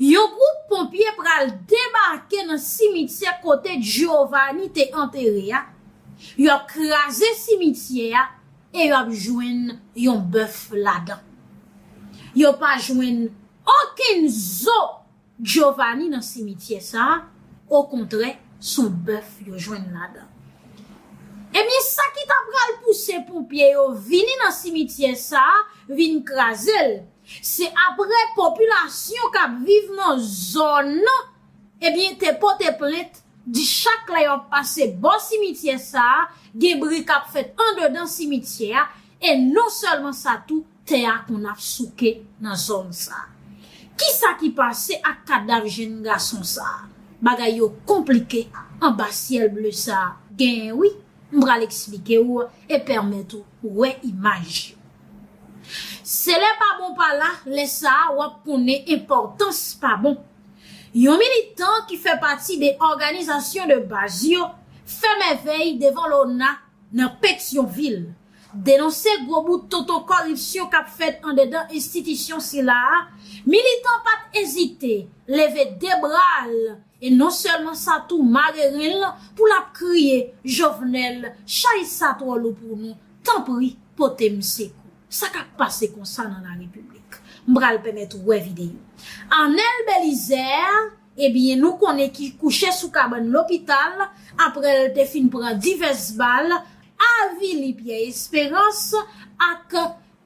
Yon gwoup ponpye pral debake nan simityè kote Giovanni te antere a, yo ap kraze simityè a e yo ap jwenn yon bèf ladan. Yo pa jwenn okenn zo Giovanni nan simityè sa a, okontrè son bèf yo jwenn ladan. Ebyen sa ki ta pral pouse ponpye yo vini nan simityè sa a vin kraze l, Se aprè popilasyon k ap viv nan zòn nan ebyen te pote plent di chak lè y ap pase bò simityè sa a gen bri k ap fèt andedan simityè a e non sèlman sa tou tè a konn ap souke nan zòn sa a. Kisa ki pase ak kadav jenn gason sa a? Bagay yo konplike anba syèl ble sa a genyen wi. M pral eksplike ou e pèmèt ou wè imaj yo. Se lè pa bon pa la, lè sa a w ap konnen enpòtans pa bon. Yon militan ki fè pati de òganizasyon de baz yo fè mèvèy devan Lona nan Petyonvil, denonse gwo bout tonton kòripsyon k ap fèt andedan enstitisyon sila a, militan pa t ezite leve de bra l E non selman sa tou mareren l pou l ap kriye Jovenel chay sa tro lou pou nou tanpri pote m sekou. Sa kap pase konsa nan la repiblik. M pral pemet ou we video. Arnel Belizaire ebyen nou konnen ki kouche sou kabann lopital apre l te fin pran divès bal avili Pierre Esperance ak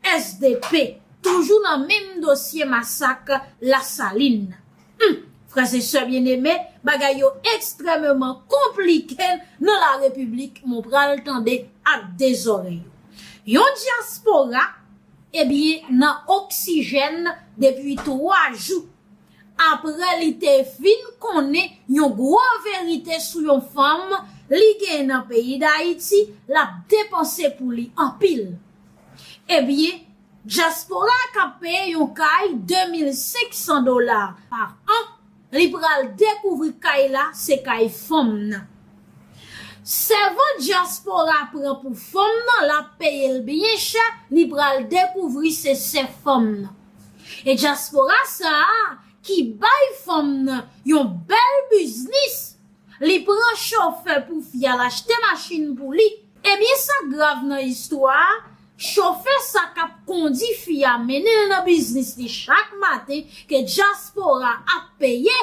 Sdp toujou nan menm dosye masak la salin nan. Humm frè e sè byen eme bagay yo ekstrememan konplike nan la repiblik mwen pral tande ak de zorey. Yon dyaspora ebyen nan oksijèn depi 3 jou apre li te vin konnen yon gwo verite sou yon fanm li gen nan peyi dayiti lap depanse pou li anpil. Ebyen, dyaspora k ap peye yon kay 2500 dola pa an, li pral dekouvri kay la se kay fanm nan. Sèvant dyaspora pran pou fanm nan, l ap peye l byen chè, li pral dekouvri se sè fanm nan. E dyaspora sa a ki bay fanm nan yon bèl biznis Li pran chofè pou fi a l achte machin pou li. Ebyen sa k grav nan istwa a, chofè sa k ap kondi fi a mennen l nan biznis li chak maten ke dyaspora ap peye.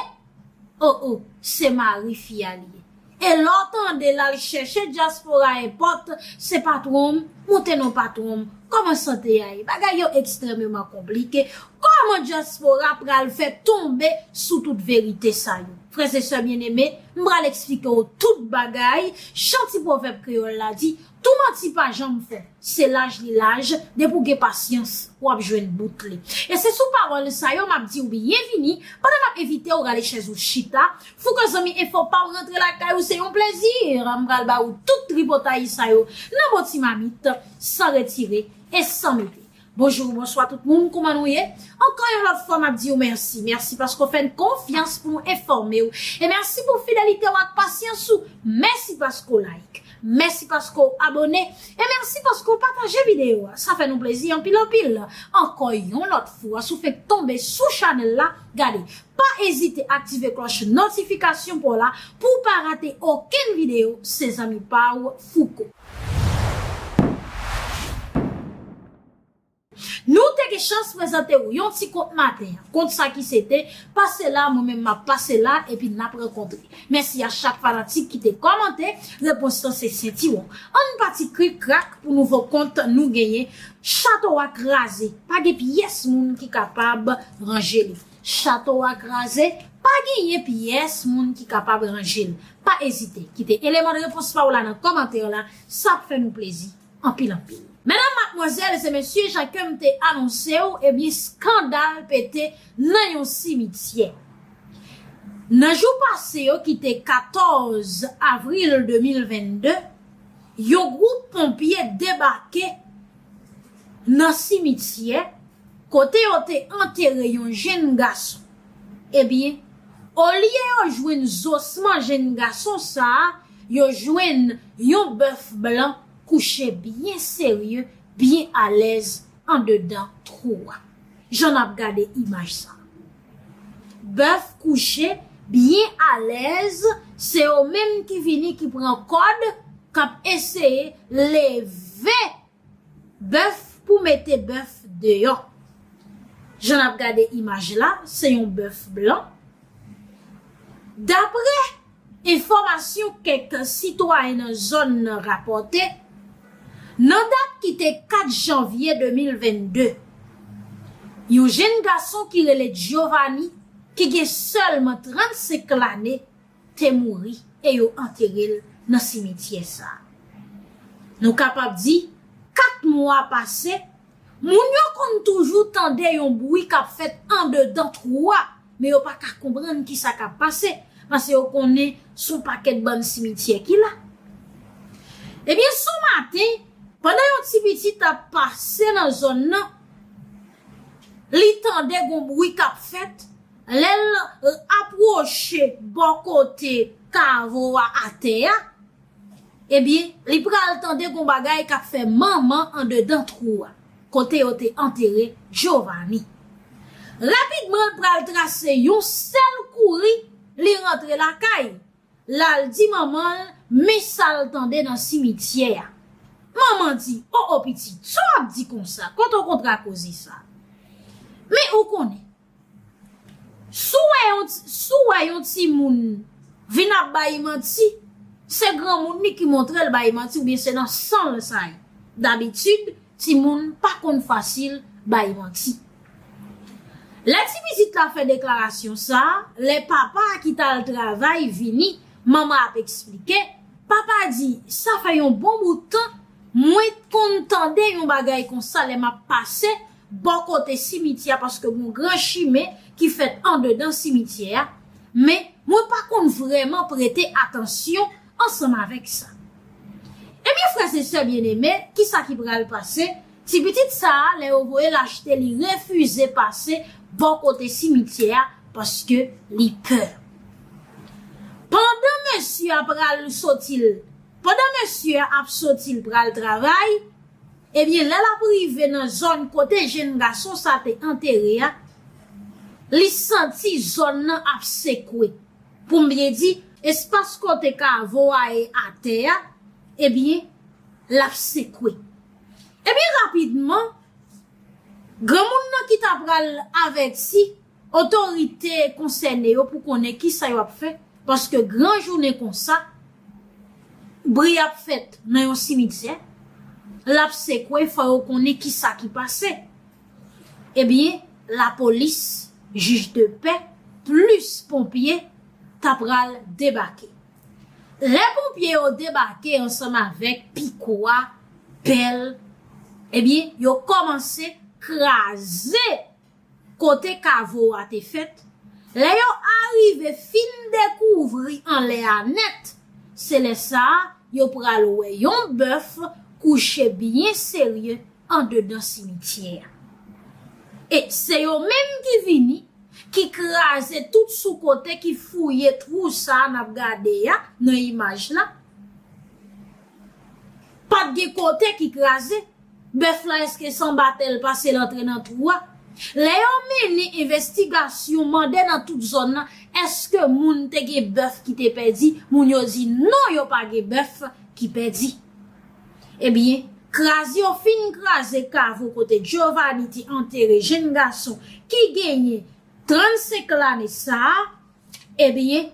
O o, se mari fi a li ye. E lè w tande l al chèche dyaspora enpòt, se patwon m, moute non patwon m, kòman sante a ye? Bagay yo ekstrèmeman konplike, kòman dyaspora pral fè tonbe sou tout verite sa yo? Frè e sè byeneme, m pral eksplike w tout bagay, jan ti pwovèb kreyòl la di, Tou manti pa janm fon, se laj li laj, depi w gen pasyans, w ap jwenn bout li. E se sou pawòl sa yo m ap di w byenvini, pandan m ap envite w rale chèz ou chita, Fouco zanmi enfo pa w rantre lakay ou se yon plezi, m pral ba ou tout tripotay sa yo nan bon ti mamit, san retire e san mete. Bonjour bonswa tout moun kouman nou ye ankò yon lòt fwa map diw mèsi mèsi paske ou fèn konfyans pou nou enfòmew e mèsi pou fidelitew ak pasyans ou mèsi paske ou like mèsi paske ou abòne e mèsi paske ou pataje videyo a sa fè nou plezi anpil anpil ankò yon lòt fwa sou fenk tonbe sou chanèl la gade pa ezite aktive klòch notifikasyon paw la pouw pa rate okenn videyo se zanmi paw fouco. Nou te gen chans prezante ou yon ti kont maten an. Kont sa ki se te, Pase la, mwen menm m ap pase la, epi n ap rankontre. Mèsi a chak fanatik ki te kòmante, repons lan se sentiwon. Ann pati krik krak pou nouvo kont nou genyen. Chato a kraze, pa gen pyès moun ki kapab ranje li. Chato a kraze, pa genyen pyès moun ki kapab ranje l. Pa ezite kite eleman de repons pa w la nan kòmantè la, sa ap fè nou plezi anpil anpil. Medam, matmwazèl e mesye, jan ke m te anonse w, ebyen skandal pete nan yon simityè. Nan jou pase yo ki te 14 avril 2022, yon gwoup ponpye debake nan simityè kote yo te antere yon jenn gason. Ebyen, olye yo jwenn zosman jenn gason sa a, yo jwenn yon bèf blan kouche byen serye, byen alèz andedan twou a. Jan n ap gade imaj sa a. Bèf kouche byen alèz se yo menm ki vini ki pran kòd kap eseye leve bèf pou mete bèf deyò. Jan nap gade imaj la se yon bèf blan. Daprè. Enfòmasyon kèk sitwayen nan zòn nan rapòte, nan dat ki te 4 janvye 2022, yon jenn gason ki rele Giovanni ki gen sèlman 35 lane te mouri e yo antere l nan simetyè sa. Nou kapab di 4 mwa pase Moun yo konn toujou tande yon bwi k ap fèt andedan twou a, men yo pa ka konprann ki sa k ap pase, pase yo konnen s on pakèt bann simityè ki la. Ebyen, s on maten, pandan yon ti piti t ap pase nan zòn nan, li tande gon bwi k ap fèt, lè l apwoche bò kote kavo a atè a, Ebyen, li pral tande gon bagay k ap fè manman andedan twou a, kote yo te antere Jovani. Rapidman l pral trase yon sèl kouri, li rantre lakay, l al di manman l men sa l tande nan simityè a. Manman di, O o pitit, sa w ap di konsa, kote w kontre a koze sa? Men ou konnen. Si w wè yon si w wè yon timoun vin ap bay manti se granmoun li ki montre l bay manti oubyen se nan san l sa ye dabitid timoun pa konn fasil bay manti lè ti pitit la fè deklarasyon sa lè papa a ki t al travay vini manman ap eksplike papa di sa fè yon bon bout tan mwen t konn tande yon bagay konsa lè m ap pase bò kote simityè a paske gon gran chimen ki fèt andedan simityè a, men mwen pa konn vrèman prete atansyon ansanm avèk sa. Ebyen frèzesè byeneme kisa ki pral pase, ti pitit sa a lè yo voye l achte li refize pase bò kote simityè a paske li pè. Pandan mesye a pral soti l pandan mesye a ap soti l pral travay, Ebyen lè l ap rive nan zòn kote jenn gason sa te antere a, li santi zòn nan ap sekwe. Pou m byen di, espas kote kavo a e atè a, ebyen l ap sekwe. Ebyen rapidman, granmoun nan ki ta pral avèti, otorite konsène yo pou konnen ki sa yo ap fè paske gran jounen kon sa bri ap fèt nan yon simityè l ap sekwe fò yo konnen ki sa ki pase e byen lapolis jij de pè plis ponpye ta pral debake lè ponpye yo debake ansanm avèk piko a pèl e byen yo kòmanse kraze kote kavo a te fèt, lè yo arive fin dekouvri anlè a nèt, se lè sa a yo pral wè yon bèf kouche byen serye andedan simityè a. E se yo menm ki vini, ki kraze tout sou kote, ki fouye twou sa a n ap gade a nan imaj la. Pa t gen kote ki kraze. Bèf la eske san batèl pase l antre nan twou a? Lè yo mennen envestigasyon mande nan tout zòn nan eske moun te gen bèf ki te pèdi moun yo di non yo pa gen bèf ki pèdi. Ebyen kraz yo fin kraze kavo kote Giovanni te antere jenn gason ki genyen 35 lane sa a. Ebyen,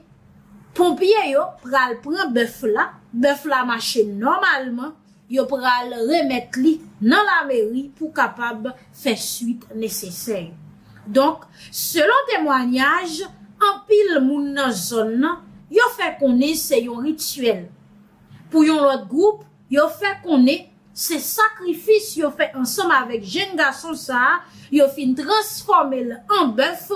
ponpye yo pral pran bèf la, bèf la mache nòmalman, yo pral remèt li nan lameri pou kapab fè swit nesesè yo. Donk, selon temwanyaj anpil moun nan zòn nan, yo fè konnen se yon rityèl. Pou yon lòt gwoup, Yo fè konnen se sakrifis yo fè ansanm avèk jenn gason sa a yo fin transfòme l an bèf,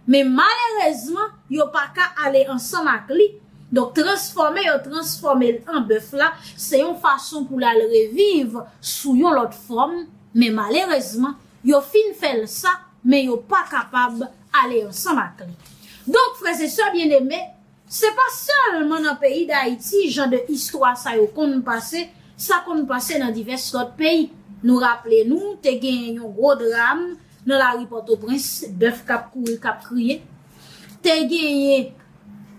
men malerezman yo pa ka ale ansanm ak li, donk transfòme yo transfòme l an bèf la se yon fason pou l al reviv sou yon lòt fòm, men malerezman yo fin fè l sa men yo pa kapab ale ansanm ak li. Donk frèzesè byeneme. Se pa sèlman nan peyi Dayiti jan de istwa sa yo konn pase, sa konn pase nan divès lòt peyi. Nou raple nou te gen yon gwo dram nan lari Pòtoprens, bèf k ap kouri, k ap kriye. Te genyen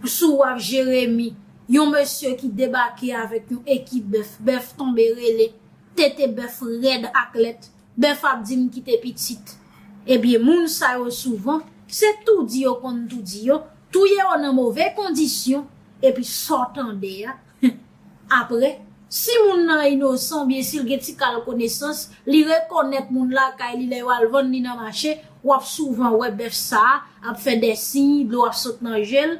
sou waf Jeremi yon mesye ki debake avèk yon ekip bèf, bèf tonbe rele, tete bèf rèd ak lèt. Bèf ap di m kite pitit. Ebyen moun sa yo souvan se tou di yo konn tou di yo, touye yo nan move kondisyon epi sa w tande a aprè si moun nan inosan oubyen si l gen ti kal konesans li rekonèt moun lakay li lè yo al vann li nan mache w ap souvan wè bèf sa a ap fè dè siy dlo ap sot nan je l.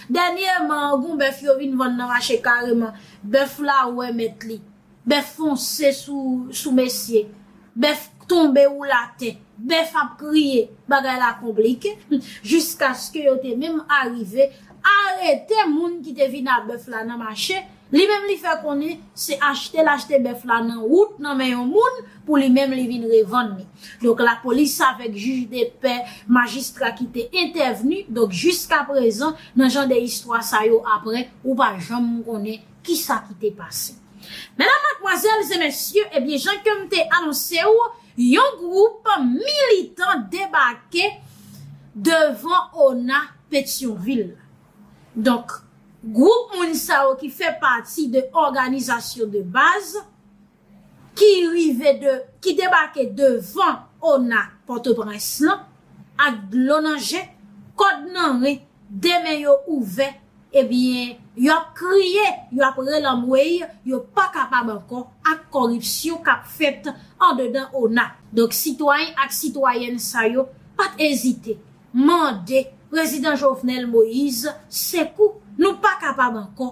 Dènyeman an gen w bèf yo vin vann nan mache kareman bèf la wè mèt li Bèf fonse sou mesye. Bèf k tonbe woule atè. Bèf ap kriye. Bagay la konplike. Jiskaske yo te menm arive arete moun ki te vin a bèf la nan mache. Li menm li fè konnen se achte l achte bèf la nan wout nan men yon moun pou li menm li vin revann li. Donk lapolis avèk jij de pè, majistra ki te entèvni. Donk jiskaprezan nan jan de istwa sa yo aprè ou pa janm konnen Kisa ki te pase? Medam, matmwazèl e mesye, ebyen jan ke m te anonse ou, yon gwoup militan debake devan ona Petyonvil la. Donk, gwoup moun sa yo ki fè pati de òganizasyon de baz, ki rive de ki debake devan ona pòtoprens lan ak dlo nan je, kòd nan ren, 2 men yo ouvè ebyen yo ap kriye, yo ap rele anmweyy yo pa kapab ankò ak kòripsyon k ap fèt andedan ona. Donk sitwayen ak sitwayèn sa yo pa t ezite mande Prezidan Jovenel Moïse sekou, nou pa kapab ankò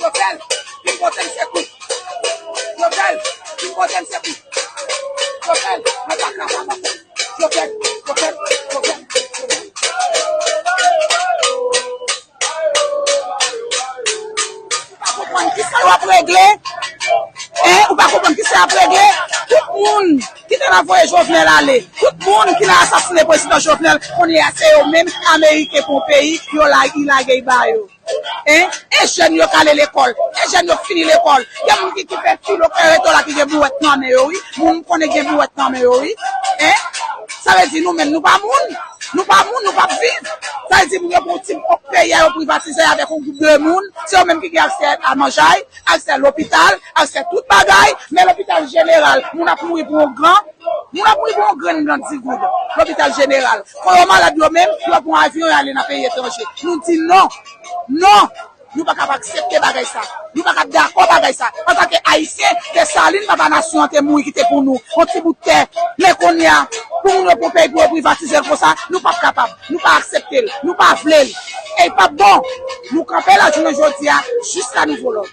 Yo fel, vin potem sekou. Yo fel, vin potem sekou. Yo fel, mwen pa ka pa pase. Yo fel, yo fel, yo fel, yo fel. Ou pa konprann ki sa yo ap regle? Hein, ou pa konprann ki sa y ap regle? Tout moun ki te nan voye Jovenel ale, tout moun ki nan asasine prezidan Jovenel, kounye a se yo menm Ameriken pou yon peyi, yo lage, y lage y ba yo. Hein e jèn yo k ale lekòl e jèn yo k fini lekòl gen moun ki ki fè filo k fè reto la ki gen bouwèt nan men yo wi moun m konnen k gen bouwèt nan men yo wi hein sa vle di nou menm nou pa moun nou pa moun nou pap viv sa vle di moun yo pran yon ti ok peyi a yo privatizey avèk yon gwoup de moun se yo menm ki gen aksè a manjay aksè lopital aksè tout bagay men lopital jeneral moun ap mouri pou yon gran Moun ap mouri pou yon grenn blan 10 goud lopital jeneral. Kon yo malad yo menm, yo pran avyon yo ale nan peyi etranje. Nou di non! Non! Nou pa kab aksepte bagay sa. Nou pa kab dakò bagay sa. Antanke Ayisyen, Desalin, papa nasyon an, te mouri kite pou nou yon ti bout tè. Men kounye a, pou moun yo pran peyi pou yo privatize l konsa, nou pap kapab. Nou pa aksepte l. Nou pa vle l. E li pap bon! Nou kanpe la jounen jodi a jiska nouvo lòd.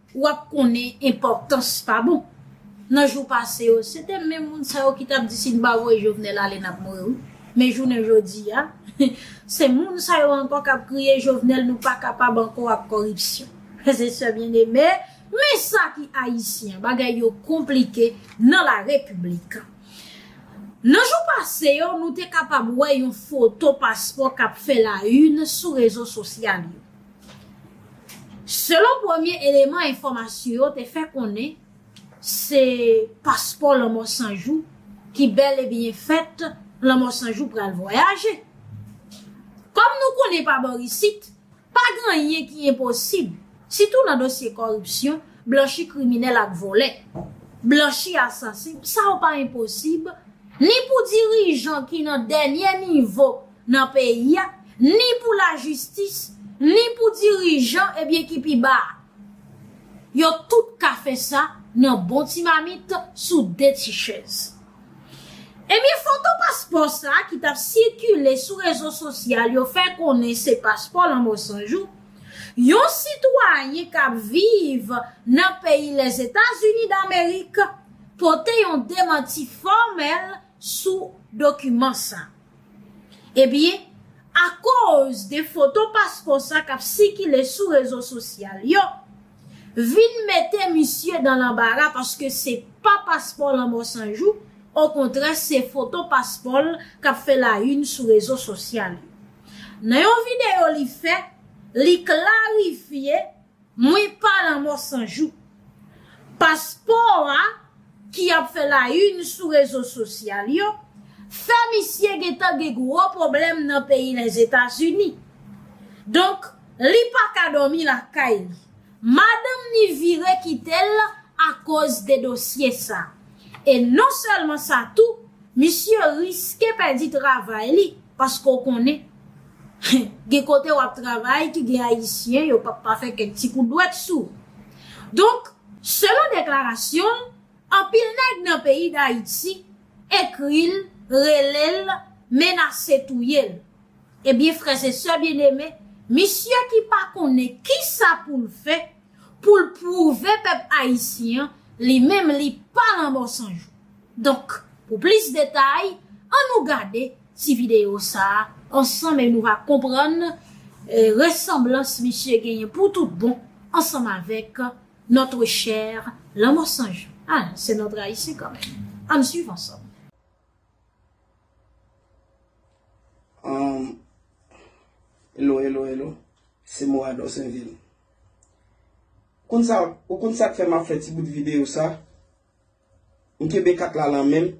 Ou ap konnen enpòtans pa bon. Nan jou pase yo, se te menm moun sa yo ki t ap di si n pa voye Jovenel ale n ap mouri wi. Men jounen jodi a, se moun sa yo ankò k ap kriye Jovenel nou pa kapab ankò ak kòripsyon. Frè e sè byeneme, men sa ki Ayisyen, bagay yo konplike nan la Repiblik. Nan jou pase yo, nou te kapab wè yon foto paspò k ap fè la in sou rezo sosyal yo. Selon premye eleman enfòmasyon yo te fè konnen se paspò lanmò san jou ki bèl e byen fèt lanmò san jou pral vwayaje. Kòm nou konnen pa bò isit pa gen anyen ki enposib sitou nan dosye kòripsyon, blanchi kriminèl ak vòlè, blanchi asasen sa yo pa enposib ni pou dirijan ki nan dènye nivo nan peyi a, ni pou lajistis, ni pou dirijan ebyen ki pi ba a. Yo tout ka fè sa nan bon ti mamit sou de ti chèz. Ebyen foto paspò sa ki t ap sikile sou rezo sosyal yo fè konnen se paspò lanmò san jou yon sitwayen k ap viv nan peyi Lèzetazini damerik pote yon demanti fòmèl sou dokiman sa. Ebyen, akoz de foto paspò sa k ap sikile sou rezo sosyal yo, vin mete misye dan lanbara paske se pa paspò lanmò san jou, okontrè se foto paspò l k ap fè layin sou rezo sosyal yo. Nan yon videyo li fè, li klarifye Mwen pa lanmò san jou. Paspò a ki ap fè la yn sou rezo sosyal yo, fè misye gentan gen gwo pwoblèm nan peyi Lèzetazini. Donk li pa ka dòmi lakay li. Madanm ni vire kite l akoz de dosye sa. E non sèlman sa tou, misye riske pèdi travay li paske w konnen. Gen kote wap travay ki gen ayisyen yo pap pa fè kèk ti kout dwèt sou ou. Donk, selon deklarasyon l, anpil nèg nan peyi Dayiti ekri l, rele l, menase touye l. Ebyen frèzesè byeneme, misye ki pa konnen kisa pou l fè pou l pwouve pèp ayisyen an li menm li pa lanmò san jou. Donk, pou plis detay, annou gade. ti videyo sa a ansanm e nou va konprann resanblans misye genyen pou tout bon ansanm avèk notre cher Lanmò San Jan. A, se notre Ayisyen kan menm. Ann swiv ansanm. Anm, Elo, elo, elo. Se Moa Dorsainville. Ou konn sa, ou konn sa k fè m ap fè ti bout videyo sa? M kenbe kat la lan menm.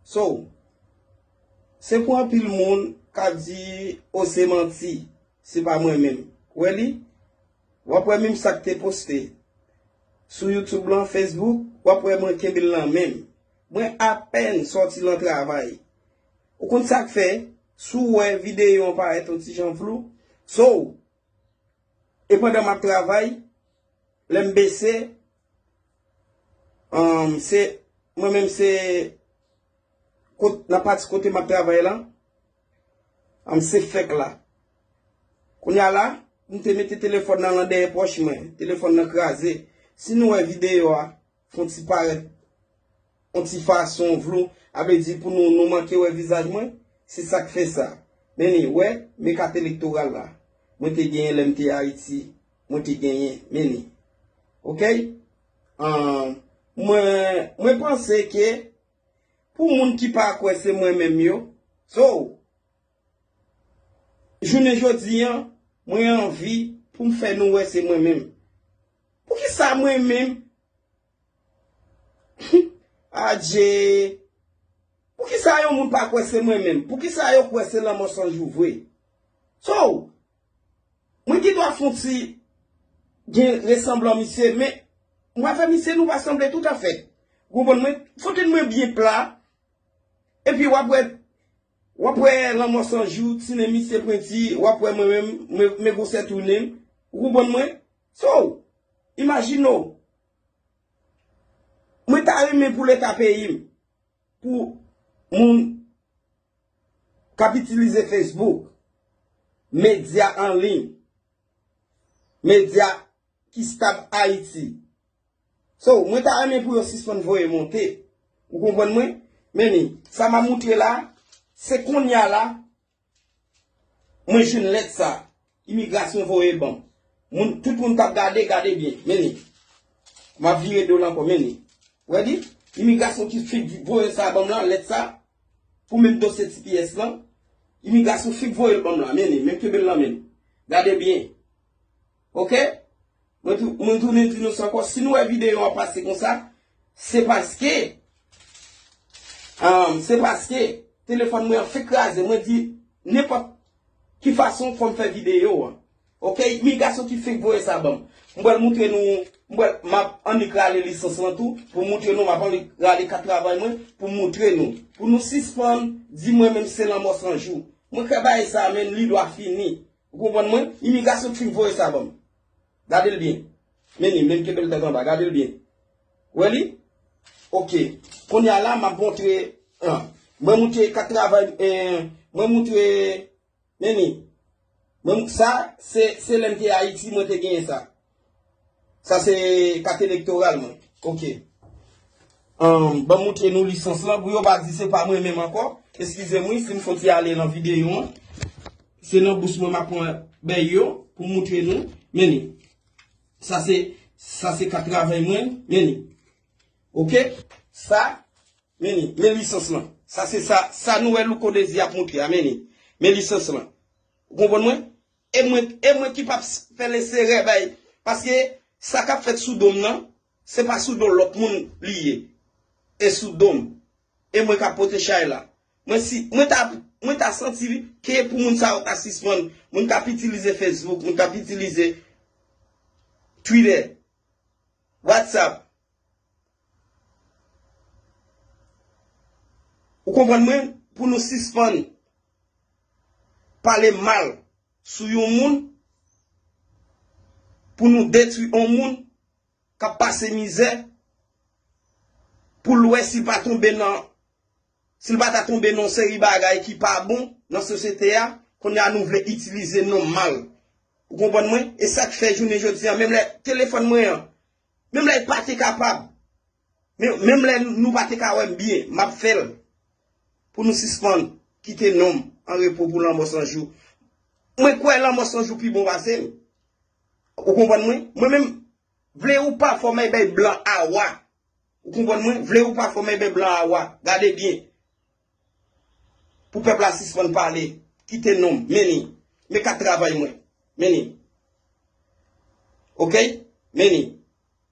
So. Se pou anpil moun ka di oh se manti, se pa mwen menm. Wè li? W ap wè menm sa k te poste sou YouTube lan, Facebook, w ap wè mwen kenbe l lan menm. Mwen apèn sòti lan travay. Ou konn sa k fè, si w wè videyo an parèt yon ti jan flou, so. E pandan m ap travay, lè m bese, Umm se mwen menm se kot nan pati kote map travay lan umm se fek la kounya la m te mete telefòn nan lan dèyè pòch mwen telefòn nan kraze si nou wè videyo a fon ti parèt yon ti fason vlou avle di pou nou nou manke wè vizaj mwen se sak fè sa men ni wè me kat elektoral la mwen te genyen lèm te ayiti. Mwen te genyen men li. Ok Ahh mwen mwen panse ke pou moun ki pa kwè se mwen menm yo So jounen jodi an mwen anvi pou m fè nou wè se mwen menm Poukisa mwen menm Adjee Poukisa yon moun pa kwè se mwen menm Poukisa yo kwè se lanmò san jou vre So Mwen gen dwa fon ti gen resanblan misye men mwen avè misye nou pa sanble tout afè. Gwo bon mwen fote mwen byen pla epi wap wè wap wè lanmò san jou ti nen misye pwenti wap wè mwen menm mwen gwosè tou nen ou konprann mwen so imajine w mwen ta renmen pou leta peyi m. Pou moun k ap itilize Facebook, medya anliy, medya ki stab Ayiti. So, mwen ta renmen pou yo sispann voye monte. Ou konprann mwen? Meni, sa m a moutre la, se konnya la, Mwen jwenn lèt sa. Imigrasyon voye ban m. Moun, tout moun k ap gade, gade byen. Men li. M ap vire do l ankò. Men li. Ou wè li? Imigrasyon ki fenk voye sa ban m lan, lèt sa. Pou menm dosye tps lan. Imigrasyon fenk voye l ban m lan. Men li. Men m kenbe l nan men m. Gade byen. Ok Mwen tounen di nou sa ankò si nou wè videyo an pase konsa se paske se paske telefòn mwen an fèk kraze mwen di nenpòt ki fason fòm fè videyo an ok mi gason ki fèk voye sa banm m pral moutre nou m pral map annik rale lisans lan tou pou moutre nou map annik rale kat travay mwen pou moutre nou pou nou sispann di mwen menm se lanmò san jou mwen kwè bagay sa menn li dwa fini Ou konprann mwen? Imigrasyon ki fin voye sa ban m. Gade l byen. Men li, men l kenbe l tèt anba. Gade l byen. Ou wè li? Ok. Kounye a la, m ap montre an. Mwen montre kat travay m, en, mwen montre, men li. Mwen m, sa, se, se lè m te Ayiti mwen te genyen sa. Sa se kat elektoral mwen. Ok. Ban m moutre nou lisans lan pou yo pa di se pa mwen menm ankò. Eskize m wi si m fon ti ale nan videyo an. Se nan bous mwen m ap pran bèy yo pou m moutre nou. Men ni. Sa se, sa se kat travay mwen. Men ni. Ok. Sa. Men ni. Men lisans lan. Sa se sa, sa nou wè Louko Désir ap moutre a. Men ni. Men lisans lan. Ou konprann mwen? E mwen e mwen ki pap fè leserè bay paske sa kap fèt sou dom nan se pa sou do lòt moun li ye e sou dom e mwen kap pote chay la mwen si mwen ta mwen ta santi ke pou moun sa yo ta sispann moun kap itilize fesbouk moun kap itilize twitè watsap Ou konprann mwen? Pou nou sispann pale mal sou yon moun, pou nou detwi yon moun k ap pase mizè, pou l wè si l pa tonbe nan, si l pa ta tonbe nan yon seri bagay ki pa bon nan sosyete a, kounye a nou vle itilize non mal. Ou konprann mwen? E sa k fè jounen jodi a, menm lè telefòn mwen an, Menm lè pa te kapab, menm lè nou pa te ka wè m byen, m ap fè l pou nou sispann kite non m an repo pou lanmò san jou. Mwen kwè lanmò san jou pi bon pase l. Ou konprann mwen? Mwen menm, vle ou pa fò m èbèy blan a wa. Ou konprann mwen? Vle ou pa fò m èbèy blan a wa. Gade byen. Pou pèp la sispann pale, kite non m, meni. Men kat travay mwen, meni. Ok, meni.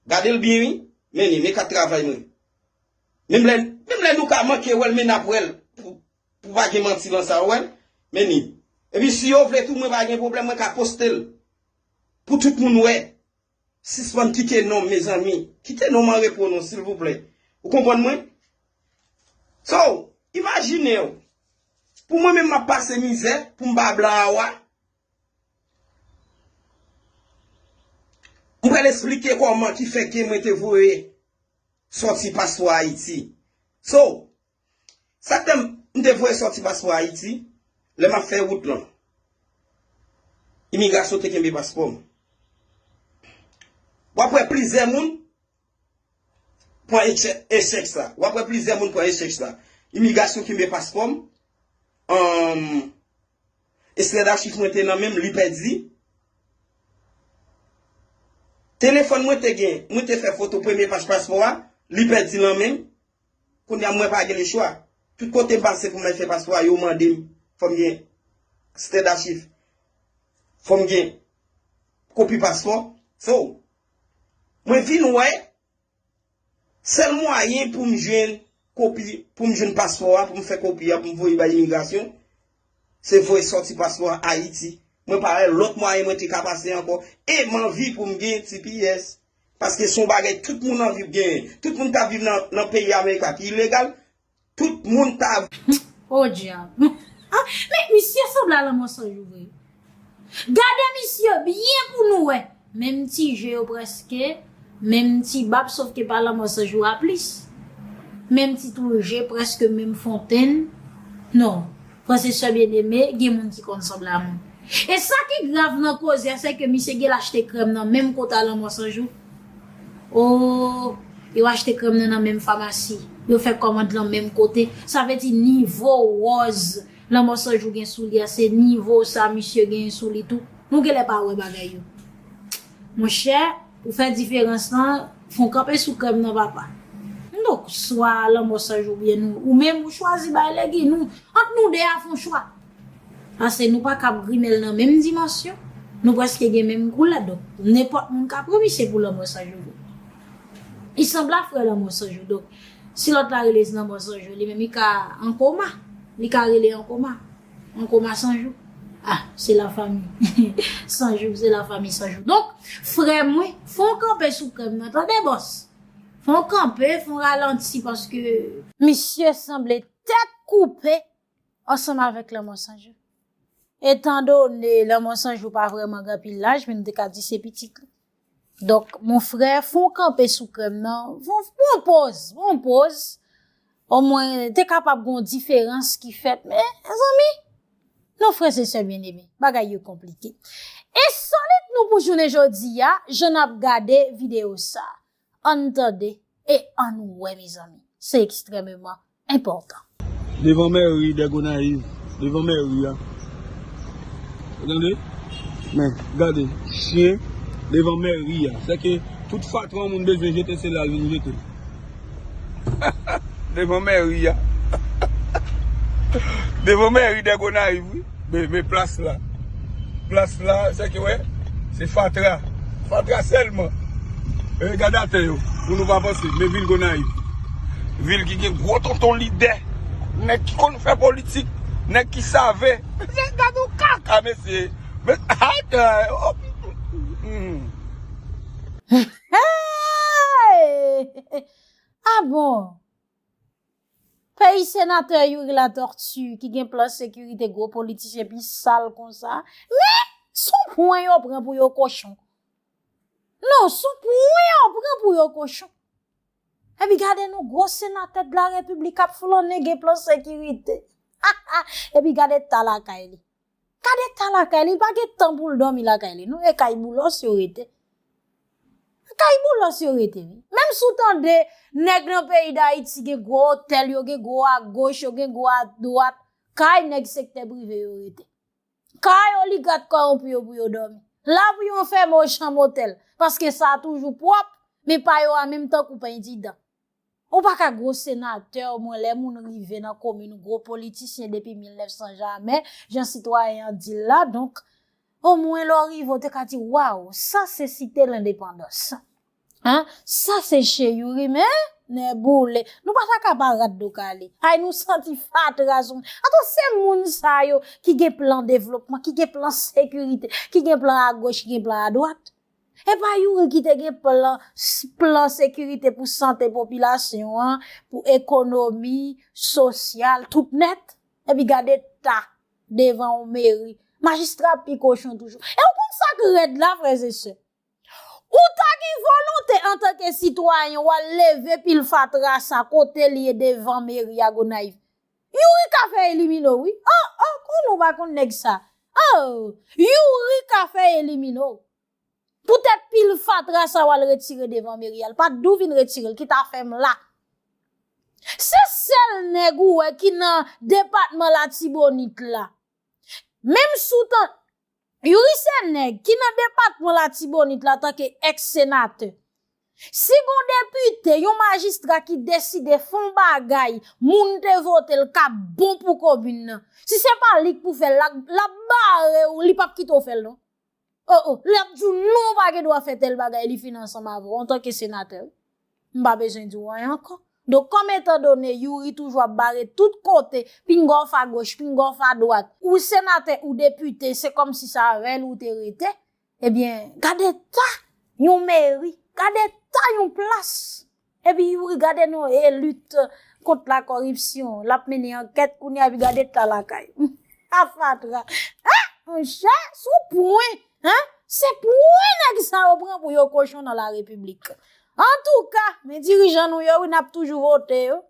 Gade l byen wi, meni, men kat travay mwen. Menm lè, menm lè nou ka manke wè l men n ap wè l pou pa gen manti lan sa, ou wè l, meni. Epi si yo vle tou mwen pa gen pwoblèm mwen ka poste l pou tout moun wè. Sispann kite nonm mezanmi. Kite nonm an repo non silvouplè. Ou konprann mwen? So, imajine w, pou mwen menm m ap pase mizè pou m ba blan a wa. M pral esplike kòman ki fè ke mwen te voye sòti pastò Ayiti. So, Sa k fèm m te voye sòti paspò Ayiti, lè map fè wout lan. Imigrasyon te kenbe paspò m. Wap wè plizyè moun pran echèk sa. Wap wè plizyè moun pran echèk sa. Imigrasyon kenbe paspò m. Estrè dachif mwen te nan menm li pèdi. Telefòn mwen te gen, mwen te fè foto premye paj paspò a, li pèdi nan menm. Kounya mwen pa gen le chwa. Tout kote m pase pou mwen fè paspò a yo mande m fò m gen stèd achiv. Fò m gen kopi paspò. So, mwen vin wè sèl mwayen pou m jwenn kopi, pou m jwenn paspò a, pou m fè kopi a, pou m voye bay imigrasyon, se voye sòti paspò a Ayiti. Mwen pa wè lòt mwayen mwen te ka pase ankò. E m anvi pou m gen tps. Paske son bagay tout moun anvi genyen. Tout moun ta viv nan peyi America ki ilegal. Tout moun ta. Podyab. Men misye sanble a lan mansonj ou vre. Gade misye byen pou nou wè. Menm ti je yo preske. Menm ti bab sof ke pa lan mansonj ou a plis. Menm ti tou je preske menm fontenn. Non. Frè se sè byen eme gen moun ki konn san blamou. E sa ki grav nan koze a se ke misye gel achte krèm nan menm kota lanmò san jou. Ooh yo achte krèm nan nan menm famasi. Yo fè kòmand lan menm kote. Sa vle di nivo wòz lanmò san jou gen sou li a se nivo sa misye genyen sou li tou. Nou genlè pa wè bagay yo. Monchè ou fè diferans lan fon kanpe sou krèm nan papa m donk swa lanmò Sanj ou byen nou ou menm ou chwazi bay legi nou ant nou 2 a fon chwa pase nou paka ap grimèl nan menm dimansyon nou prèske gen menm koulè donk nenpòt moun ka pran misye pou lanmò Sanj ou li sanble a frè lanmò Sanj ou donk si lòt la rele lanmò Sanj ou li menm li ka an koma li ka rele an koma. An koma san jou? Ah se la fami san jou se la fami san jou donk frèm wi fon kanpe sou krèm nan tande bòs fon kanpe fon ralanti paske misye sanble tèt koupe ansanm avèk lanmò san jou etandone lanmò san jou pa vrèman gen anpil laj men nou te ka di se pitit li. Donk mon frè fon kanpe sou krèm nan, fon pwan poz, pwan poz, o mwen te kapab gon diferans ki fèt men, zanmi, non frè se sè byen eme, bagay yo konplike. E solit nou pou jounen jodi ya, jan nap gade video sa, an tande, e an wè mezanmi, se ekstrememan enpòtan. Devan mèri dè Gonayiv, devan mèri a. Ou tande? Men, gade, chyen devan mèri a. Sè ke tout fatra yon moun bezwen jete se la l vin jete l. Devan mèri a. Devan mèri dè Gonayiv wi. Men plas la. Plas la sa ki wè se fatra. Fatra sèlman. E gade atè yo pou nou pa panse. Men vil Gonayiv. Vil ki gen gwo tonton lidè. Nèg ki konn fè politik. Nèg ki save. Mesye gade yon kaka mesye. Hey! A bon! Peyi senatè youri la tortu ki gen plan sekirite gwo politisyen pi sal konsa men sou pwen yo pran pou yo kochon non sou pwen yo pran pou yo kochon epi gade nou gwo senatè de la repiblik ap flannen gen plan sekirite epi gade ta lakay li. Gad eta lakay li, li pa gen tan pou l dòmi lakay li non, e kay Boulos yo rete. Se kay Boulos yo rete wi. Menm si w tande nèg nan peyi Dayiti gen gwo otèl, yo gen gwo agoch, yo gen gwo adwat, kay nèg sektè prive yo rete. Kay oligat kowonpi yo pou yo dòmi. La pou yon fèmen yon chanm otèl, paske sa a toujou pwòp, men pa yo a menm tankou pen di dan. Ou pa ka gwo senatè mwen lè moun rive nan komin gwo politisyen depi 1900 jamè jan sitwayen an di l la donk o mwen lè w rive w te ka di waw sa se site lendepandans an sa se che youri men nè boule nou pa ta ka pa rat do kale ay nou santi fatra sou moun atò se moun sa yo ki gen plan devlopman ki gen plan sekirite ki gen plan agoch ki gen plan adwat E pa youri ki te gen plan plan sekirite pou sante popilasyon an, pou ekonomi, sosyal, tout nèt? Epi gade ta devan yon meri, majistra ap pi kochon toujou. E ou konn sa k rèd la frè ze sè? Ou ta gen volonte antanke sitwayen ou al leve pil fatra sa kote li ye devan meri a Gonayiv. Youri ka fè eliminow wi oh oh kòman ou pa konn nèg sa oh youri ka fè eliminow pou tèt pil fatra sa wal retire devan meri al pat dou vin retirel ki ta fèm la se sèl nèg ou wè ki nan depatman latibonit la menm sou tan. Youri se nèg ki nan depatman latibonit la tanke ex senatè. Si gon depite, yon majistra ki deside fon bagay moun te vote l kap bon pou komin nan. Si se pa li k pou fè l la, lap bare w li pap kite w fè l non. Oh oh, lap di w non ou pa gen dwa fè tèl bagay li fin ansanm avè w antanke senatè wi. M pa bezwen di w anyen ankò. Donk kòm etan done Youri toujou ap bare tout kote, pinga w fa goch, pinga w fa dwat, ou senatè, ou depite, se kòm si sa avè l ou te rete, ebyen, gade eta yon meri, gade eta yon plas! Epi Youri gade non e lit kont la kòripsyon, l ap mennen ankèt kounye a epi gade eta lakay! Humm! A fatra! He! Monchè, sou pwen! Hein se pwen nèg sa yo pran pou yo kochon nan la repiblik. Antouka men dirijan nou yo wi nap toujou vote yo.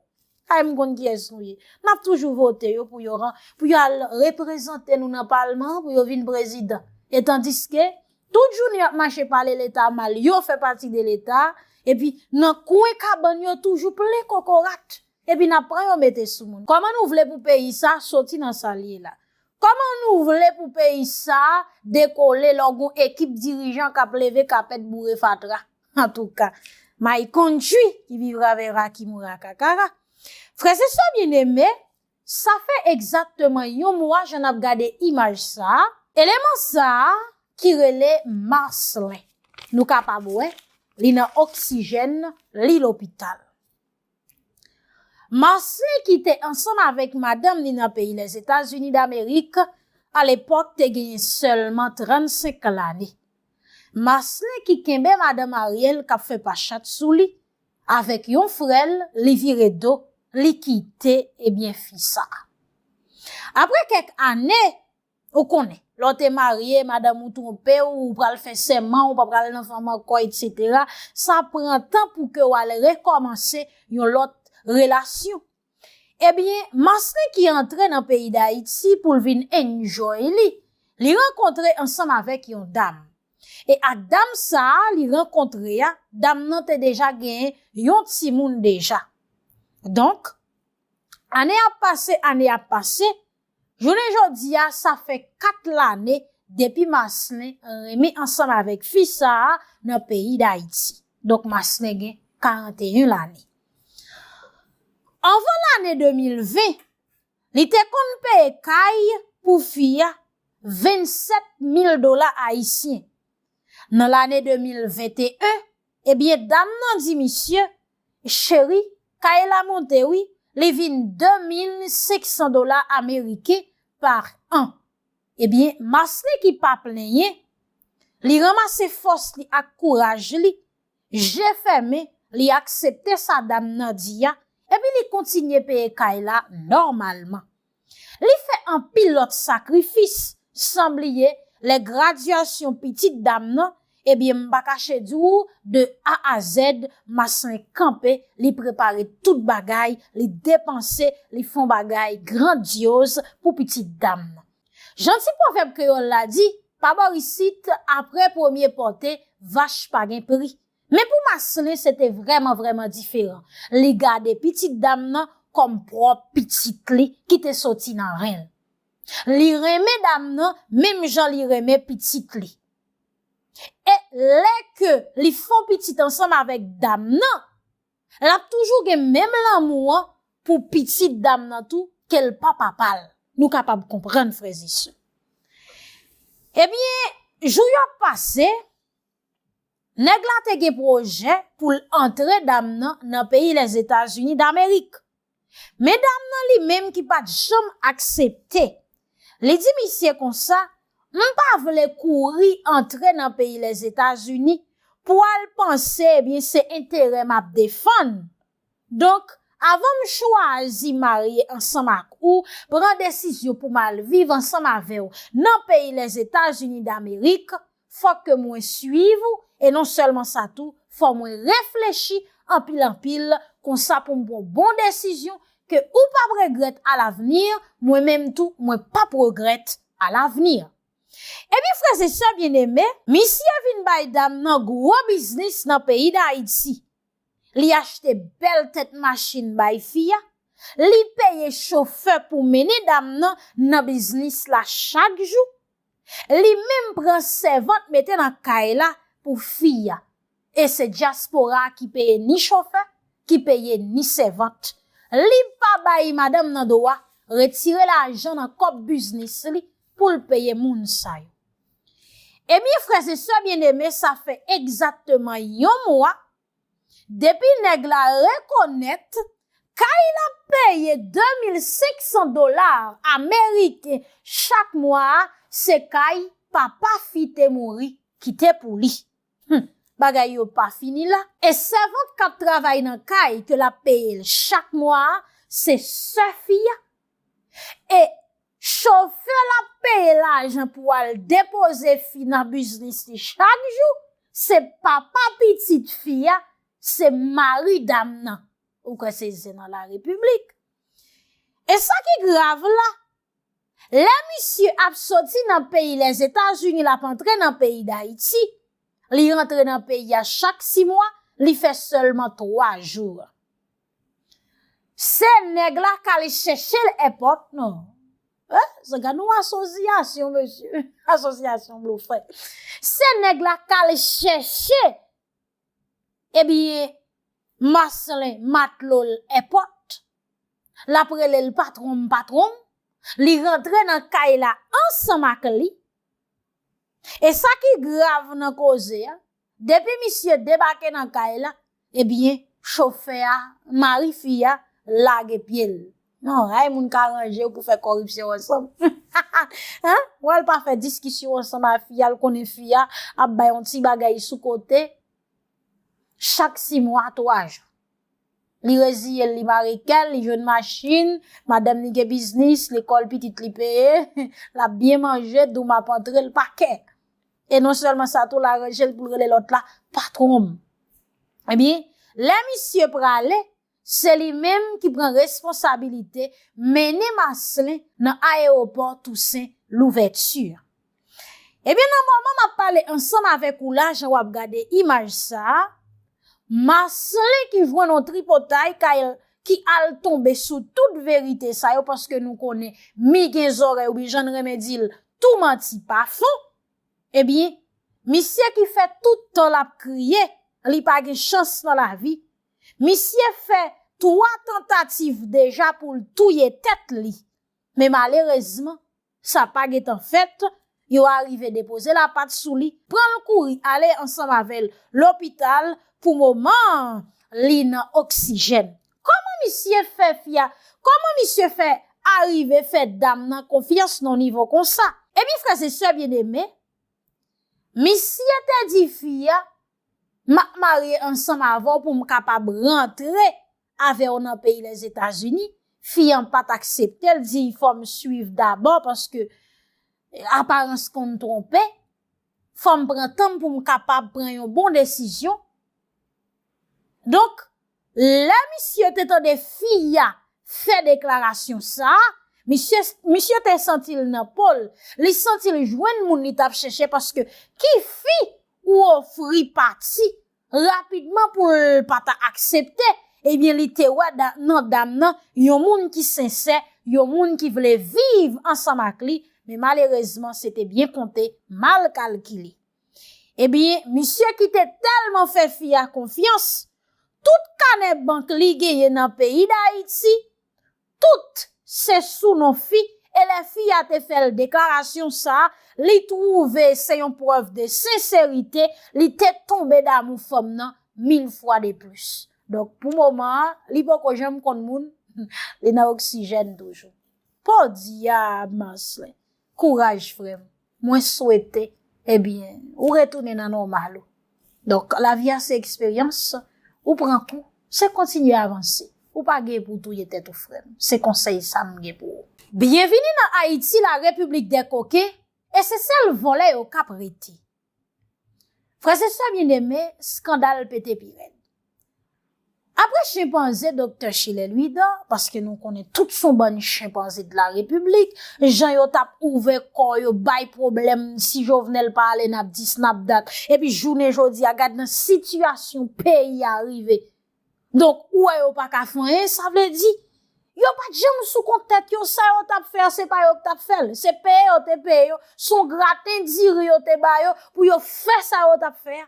Kay m konn kiyès nou ye. Nap toujou vote yo pou yo ran pou yo al reprezante nou nan palman pou yo vin prezidan. E tandiske tout jounen yap mache pale leta mal yo fè pati de leta epi nan kwen kabann yo toujou plen kokorat epi nap pran yo mete sou moun. Kòman nou vle pou peyi sa soti nan sal ye la. Koman nou vle pou peyi sa dekole lò gon ekip dirijan kap leve kapèt boure fatra. Antouka. My country ki vivra vera ki moura kakara. Frè e sè byeneme, sa fè egzakteman yon mwa jan nap gade imaj sa, eleman sa ki rele Marcelin nou kapab wè li nan oksijèn li lopital. Marcely ki te ansanm avèk madanm ni nan peyi Lèzetazini Damerik, alepòk te genyen sèlman 35 lane. Marcely ki kenbe madanm Ariel k ap fè pa chat sou li, avèk yon frè l, li vire do, li kite ebyen fi sa. Aprè kèk ane, Ou konnen, lè w te marye, madanm ou twonpe w, ou pral fè sèman, ou pa pral nan fanm ankò, etsetera, sa pran tan pou ke w al rekòmanse yon lòt relasyon. Ebyen, Maslin ki antre nan peyi Dayiti pou l vin enjoy li, li rankontre ansanm avèk yon dam. E ak dam sa a li rankontre a, dam nan te deja gen yon timoun deja. Donk, ane ap pase, ane ap pase. Jounen jodi a, sa fè 4 lane depi Marcelin renmen ansanm avèk fi sa a nan peyi Dayiti. Donk Marcelin gen 41 lane. Anvan lane 2020, li te konn peye kay pou fi a 27 mil dola ayisyen. Nan lane 2021, Ebyen dam nan di misye, Cheri, kay la monte wi, li vin 2500 dola ameriken par an. Ebyen Maslen ki pa plenyen, li ranmase fòs li ak kouraj li, je fèmen, li aksepte sa dam nan di a, epi li kontinye peye kay la nòmalman. Li fè anpil lòt sakrifis san bliye lè gradyasyon pitit dam nan, ebyen m pa kache di w de A a Z Maslin kanpe, li prepare tout bagay, li depanse, li fon bagay grandyoz pou pitit dam nan. Jan ti pwovèb kreyòl la di, pa bò isit, apre premye pòte, vach pa gen pri. Men pou Maslin se te vrèman vrèman diferan, li gade pitit dam nan kòm pwòp pitit li ki te soti nan ren l. Li renmen dam nan menm jan li renmen pitit li. E lè ke li fon pitit ansanm avèk dam nan, l ap toujou gen menm lanmou an pou pitit dam nan tou ke l pa papa l. Nou kapab konprann frèzisè. Ebyen, jou yo ap pase, Nèg la te gen pwojè pou l antre dam nan nan peyi Lèzetazini Damerik. Men dam nan li menm ki pa t janm aksepte. Li di misye konsa, M pa vle kouri antre nan peyi Lèzetazini pou al panse ebyen se enterè m ap defann. Donk, avan m chwazi marye ansanm ak ou, pran desizyon pou m al viv ansanm avè w nan peyi Lèzetazini Damerik, fòk ke mwen suiv ou, e non sèlman sa tou, fò mwen reflechi anpil anpil, konsa pou m pran bon desizyon ke ou p ap regrèt alavni, mwen menm tou mwen p ap regrèt alavni. Ebyen frèzesè byeneme, misye vin bay dam nan gwo biznis nan peyi Dayiti, Li achte bèl tèt machin bay fi a, li peye chofè pou mennen dam nan nan biznis la chak jou, li menm pran sèvant mete nan kay la pou fi a. E se dyaspora a ki peye ni chofè, ki peye ni sèvant. Li pa bay madanm nan dwa retire lajan nan kòb biznis li pou l peye moun sa yo. Ebyen frè se sè byen eme sa fè egzatteman yon mwa depi nèg la rekonèt kay lap peye 2500 dola ameriken chak mwa a se kay papa fi te mouri kite pou li. Humm bagay yo pa fini la. E sèvant kap travay nan kay ke lap peyel chak mwa a se sè fi a. E Chofè la peye lajan pou al depoze fi nan biznis li chak jou, se papa pitit fi a, se mari dam nan. Ou kwè se zen nan la repiblik. E sa ki grav la, lè misye ap soti nan peyi Lèzetazini l ap antre nan peyi Dayiti, li rantre nan peyi a chak si mwa, li fè sèlman 3 jou. Se neg la kale chechel epot nan. Ehh gad yon asosyasyon mesye, asosyasyon blofè. Se neg la kale cheche ebyen Marcelin matlol epot. La prele l patron m patron m. Li rantre nan kay la ansanm ak li. E sa ki grav nan koze a. Depi misye debake nan kay la, ebyen chofè a, mari fi a, lage pye l. Non, hay moun ka ranje pou fè kòripsyon ansanm. Hahaha! Ou al pa fè diskisyon ansanm a fi a, l konnen fi a ap bay yon ti bagay sou kote chak si mwa, twa jou. Li reziye l, li mare kè l, li jwenn machin, madanm li gen biznis, lekòl pitit li peye, l ap byen manje, doum ap antre, l pa kè. E non sèlman sa tou l aranje l pou l rele lòt la patwon m. Ebyen, lè misye prale, se li menm ki pran responsabilite mennen Maslin nan ayewopò Tousen Louvèti a. Ebyen nan moman m ap pale ansanm avèk ou la, jan w ap gade imaj sa a, Maslin ki jwenn yon tripotay kay l, ki al tonbe sou tout verite sa yo, paske nou konnen mi gen zòrèy oubyen jan n renmen di l, Tou manti pa fon, ebyen misye ki fè tout tan lap kriye li pa gen chans nan lavi, misye fè 3 tantativ deja poul touye tèt li, men malerezman sa pa gentan fèt, yo arive depoze lapat sou li, pranl kouri ale ansanm avèl lopital pou moman an li nan oksijèn. Koman misye fè fi a, koman misye fè arive fè dam nan konfyans nan nivo konsa? Ebyen frè se sè byen eme, misye te di fi a, m ap marye ansanm avè w pou m kapab rantre avè w nan peyi Lèzetazini, fi an pa t aksepte l di fò m swiv dabò paske aparans konn twonpe, fò m pran tan m pou m kapab pran yon bon desizyon. Donk, Lè misye te tande fi a fè deklarasyon sa, misye misye te santi l nan po l, li santi l jwenn moun li t ap chèche paske ki fi ou ofri pati rapidman pou l pa ta aksepte, ebyen li te wè nan dam nan yon moun ki sensè, yon moun ki vle viv ansanm ak li, men malerezman se te byen konte, mal kalkile. Ebyen, misye ki te tèlman fè fi a konfyans, tout kanè bank li genyen nan peyi Dayiti, tout se sou non fi e lè fi a te fè l deklarasyon sa, li twouve se yon prèv de senserite, li te tonbe damou fanm nan mil fwa de plis. Donk pou moman an, li poko janm konn moun, li nan oksijèn toujou. Podyab! Marcelin. Kouraj frèm mwen swete ebyen ou retounen nan nòmal ou donk lavi a se eksperyans ou pran kou se kontinye avanse ou pa gen pou touye tèt ou frèm se konsèy sa m gen pou ou. Byenvini nan Ayiti la repiblik dè koken e se sèl vòlè yo kap rete. Frèz e sè byeneme, skandal pete pi rèd. Apre chenpanze Doktè Chilè Lwidan, paske nou konnen tout son bann chenpanze de la repiblik, jan yo tap ouvè kò yo bay pwoblèm si Jovenel pa ale nap di snapdat, epi jounen jodi a gad nan sitiyasyon peyi a rive. Donk ou wè yo pa ka fè anyen sa vle di yo pa t janm sou kont tèt yo sa yo t ap fè a se pa yo k t ap fè l se peye yo te peye yo se yon graten diri yo te ba yo pou yo fè sa yo t ap fè a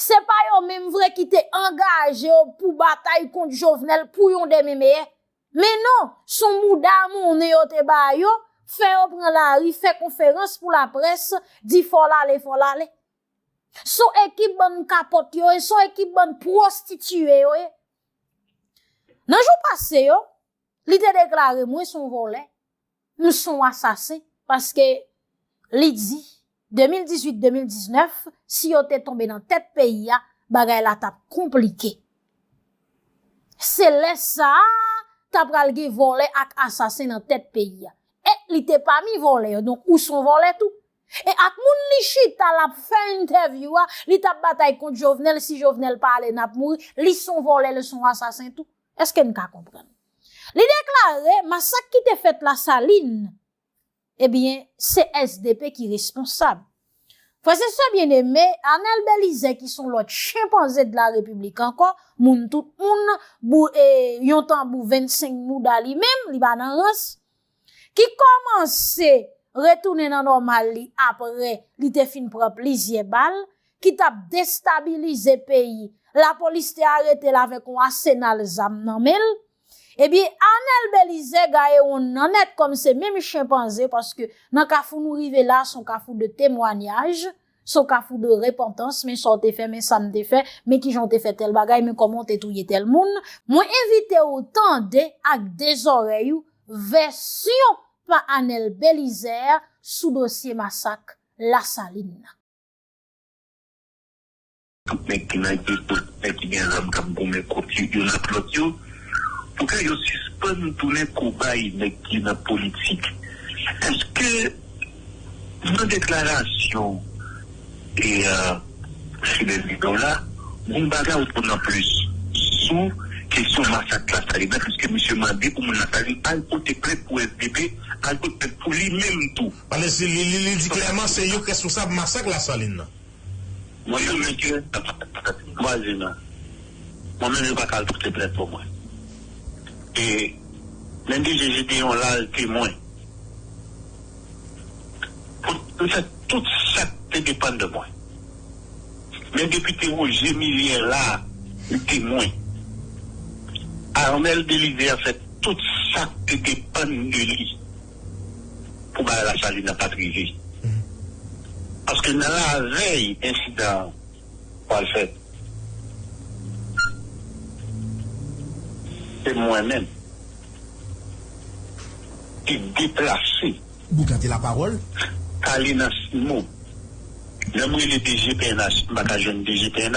se pa yo menm vre ki te angaje yo pou batay kont Jovenel pou yon demen meyè men non se yon mouda monnen yo te ba yo fè yo pran lari fè konferans pou laprès di fò l ale fò l ale Son ekip bann kapòt yo ye, son ekip bann pwostitiye yo ye. Nan jou pase yo, li te deklare mwen son vòlè, m son asasen, paske li di 2018-2019, si yo te tonbe nan tèt peyi a, bagay la tap konplike. Se lè sa a, ta pral gen vòlè ak asasen nan tèt peyi a. E li te pami vòlè yo, donk ou son vòlè tou, E ak moun li chita lap fè entèvyou a li tap batay kont jovenel si jovenel pa ale nap mouri li son vòlè li son asasen tou eske n ka konprann li deklare masak ki te fèt la salin ebyen se esdepe ki responsab frè se sè byen eme anel belize ki son lòt chenpanze dela repiblik ankò moun tout moun bou e yon tanbou 25 mouda li menm li pa nan rans. ki kòmanse retounen nan nòmal li apre li te fin pran plizyè bal, ki t ap destabilize peyi, lapolis te arete l avèk yon asenal zam nan men l, ebyen Anèl Belize gaye wonn nan nèt kòm se menm chenpanze paske nan kafou nou rive la son kafou de temwanyaj, Saw ka fou de repantans men sa w te fè men sa m te fè men kijan w te fè tèl bagay men kòman w te touye tèl moun mwen envite w tande ak de zòrèy ou vèsyon pa Anèl Belizè sou dosye masak Lasalin nan. Tout nèg ki nan ekzòd politisyen ki gen zam kap goumen kont yo youn ak lòt yo pou ke yo sispann tounen kobay nèg ki nan politik. Eske nan deklarasyon e Fidel Vidor la gon bagay ou konn an plis sou kesyon masak Lasalina piske misye mande pou moun Lasalin al pote plent pou svp al pot plent pou li menm tou. Pale si li li di klèman se yo k responsab masak Lasalin nan. Mwen yon mesye nan pati vwazin nan mwen menm yo paka al pote plent pou mwen e menm bgy Jedeon la al temwen pou m fè tout sak te depann de mwen men depite Roger Millien la li temwen Arnel Belizaire fè tout sak te depann de li. pou bagay la salin nan pat rive paske nan lavèy ensidan an pwal fèt se mwen menm ki deplase Boukante la pawòl. Tale nan CIMO lèm rele DG pnh m paka jwenn DG pnh.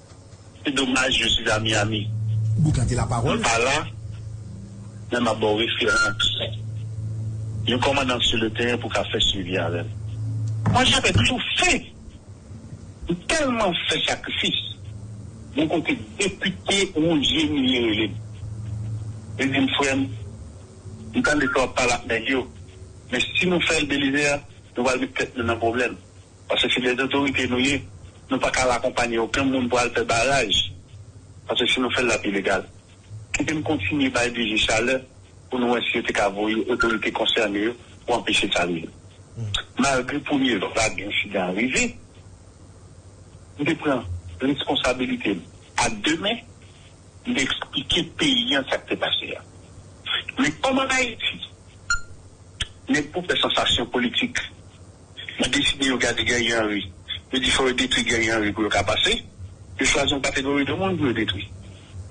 Se domaj je suis à Miami mwen pa la men map baw referans yon kòmandan sur le teren pou ka fè swivi avèm. Mwen jape toujou fen m telman fè sakrifis bon kote depite Roger Millet relem li dim frèm m tande sa wap pale ak nèg yo men si nou fèl Belizaire nou pral met tèt nou nan pwoblèm Paske se dè zotorite nou ye. Nou pa ka al akonpanye oken moun pou al fè baraj. Paske si nou fè l l ap ilegal. Kite m kontinye bay DG chalè pou nou wè si yo te ka voye otorite konsène yo pou anpeche sa rive. Malgre premye vag ensidan an rive, m te pran reskonsabilite m a de men. M te eksplike peyi an sa k te pase a. Men kòm an Ayiti, nèg pou fè sansasyon politik. Yo deside yo gade Guerrier Henry. Yo di fò yo detwi Guerrier Henry pou yo ka pase. Yo chwazi yon kategori de moun pou yo detwi.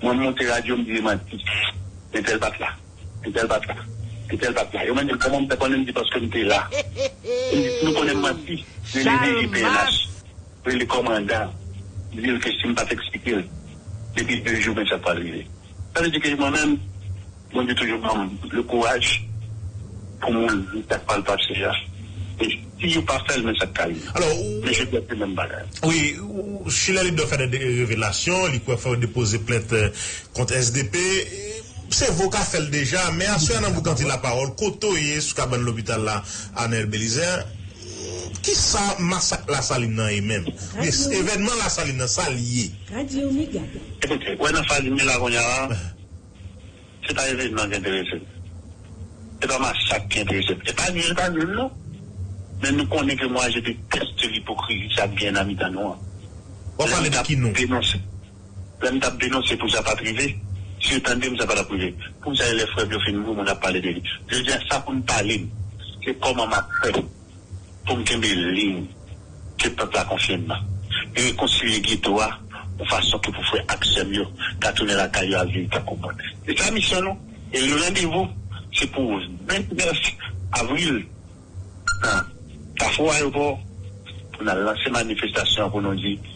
Mwen m monte radyo m di e m a di entèl pa t la, entèl pa t la, entèl pa t la. Yo mande m kòman m fè konnen m di paske m te la. Yo m di si nou konnen m manti rele DG pnh, rele kòmandan di l ke si m pa t eksplike l depi 2 jou men sa pral rive. Sa vle di ke mwen menm. Bondye toujou banm le kouraj pou mwen di sak pral pase ya e si yo pa fèl men sak ka rive men jodi a se menm bagay. Wi chilè li dwe fè de revelasyon li kwè fòl depoze plent kont SDP se vo ka fèl deja men aswè a nan boukanti la pawòl kote w ye sou kabann lopital la Arnel Belizaire kisa masak la salin nan ye menm oubyen evènman la salin nan sal ye. Ebyen wè nan faz mil a konnya la. Se pa evenman ki enterese m. Se pa masak ki enterese m. E pa di l pa nul non. Men nou konnen ke mwa je deteste lipokrizi sa k genyen nan mitan nou an. W ap pale de ki nou? Lè m t ap denonse pou sa pa t rive, si yo tande m sa pa t ap rive. Pou sa e lè frè m yo fin mouri moun ap pale de li. Jodi a sa pou n pale m se kòman m ap fè. pou m kenbe liy ke pèp la konfye m nan, e rekonsilye geto a yon fason ke pou frè ak sè m yo ka tounen lakay yo al viv tankou moun. Se sa misyon nou, e le randevou se pou 29 avril nan Kafou Ayopò pou n al lanse manifestasyon an pou nou di.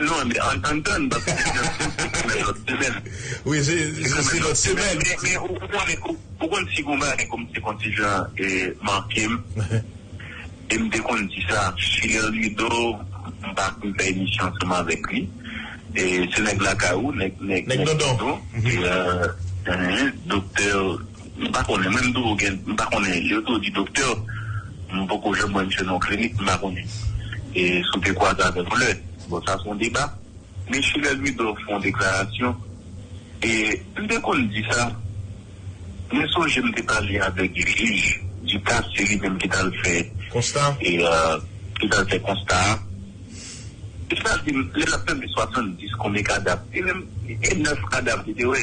Non men ann tann bab se te nan sim se semen lot semen. Wi se se lot semen. Men ou konnen ou konn si gon bagay kem te konn ti jan mankem em te konn di sa Fier Ludo m pa konn fè emisyon ansanm avek li se nèg lakay ou nèg nèg dondon e Doktè M pa konnen mwen m tou gen m pa konnen yo tou di doktè m poko janm wè misye nan yon klinik m pa konnen e si w te kwaze avè l yon lè bon sa se yon deba men Chilè Louidor fè yon deklarasyon e m te konn di sa mwen sonje m te pale avèk jij Ducasse se li menm ki t al fè konsta a e sa l di m lè l ap pale de 70 konbyen kadav e menm e 9 kadav li te wè.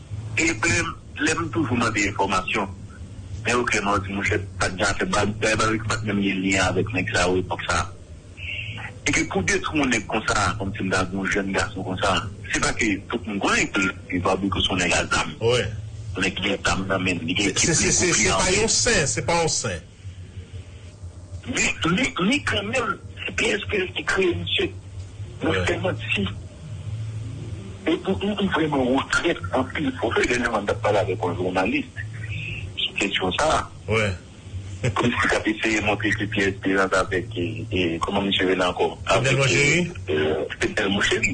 Epi lè m toujou mande enfòmasyon men yo klèman yo di monchè pat janm fè bagay pareil ke pat menm gen lyen avèk nèg sa yo epòk sa e ke pou detwi yon nèg konsa kòm si m ta di yon jèn gason konsa se pa ke tout moun konnen ke Barbecue se yon nèg a zam yon nèg ki gen zam nan men li gen ekip li pou fè anyen. Se pa yon sen. Li kanmenm se psp ki kreye misye nan fè manti epou m vreman regrèt anpil fò fè dènèman m tap pale avèk yon jounalis sou kesyon sa kòmsi kap eseye montre se pyè esperans avèk kòman misye rele ankò fednel moncheri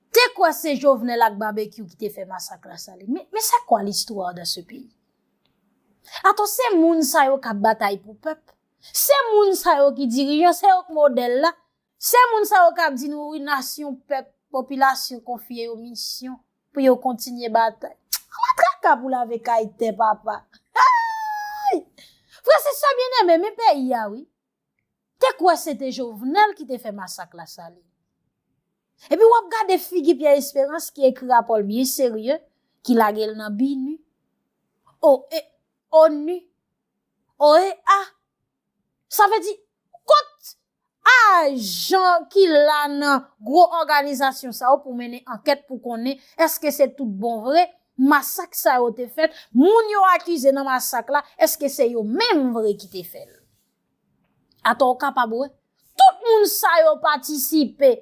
Te kwè se Jovenel ak Babekyou ki te fè masak la Saline. Men, men c'est quoi l'histoire dans ce pays? Atò, se moun sa yo k'ap batay pou pèp? Se moun sa yo ki dirijan? Se yo ki modèl la? Se moun sa yo k'ap di nou wi nasyon, pèp, popilasyon konfye yo misyon pou yo kontinye batay? Ala traka pou lave kay tè papa! Ayy! Frè, sè, sè byeneme, men peyi a wi. te kwè se te Jovenel ki te fè masak la sali. Epi wap gade figi Pierre Esperance ki ekri rapòl byen serye, ki lagel nan BINUH, OE, onu, OEA, sa vle di, kot ajan ki la nan gwo òganizasyon sa yo pou mennen ankèt pou konnen eske se tout bon vre masak sa yo te fèt, moun yo akize nan masak la eske se yo menm vre ki te fèl. Atò ou kapab wè, tout moun sa yo patisipe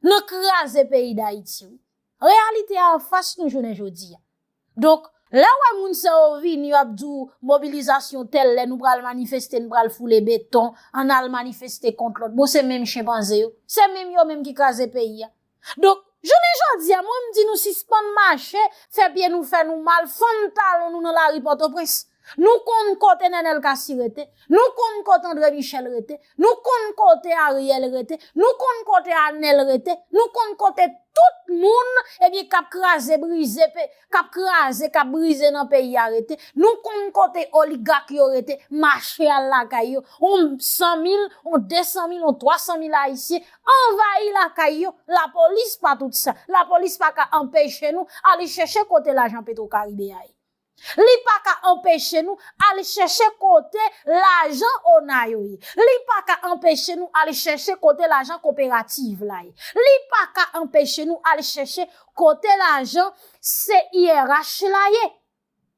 nan kraze peyi Dayiti wi. Reyalite a anfas nou jounen jodi a. Donk, lè ou wè moun sa yo vini yo ap di ou mobilizasyon tèl lè nou pral manifeste, nou pral foule beton, ann al manifeste kont lòt. Bon se menm chenpanze yo, se menm yo menm ki kraze peyi a. Donk, jounen jodi a, mwen m di nou sispann mache, fè pye nou fè nou mal, fann talon nou nan lari Pòtoprens. Nou konn kote Nènèl Kasi rete, nou konn kote Andre Michèl rete, nou konn kote Aryèl rete, nou konn kote Anèl rete, nou konn kote tout moun, ebyen k ap kraze brize pe, kap kraze kap brize nan peyi a rete nou konn kote oligak yo rete mache al lakay yo on 100 mil on 200 mil on 300 mil ayisyen anvayi lakay yo lapolis pa tout sa lapolis pa ka anpeche nou ale chèche kote lajan petro karibe a ye li pa ka anpeche nou ale chèche kote lajan ona yo ye li pa ka anpeche nou ale chèche kote lajan koperativ la ye li pa ka anpeche nou ale chèche Kote lajan CIRH la ye?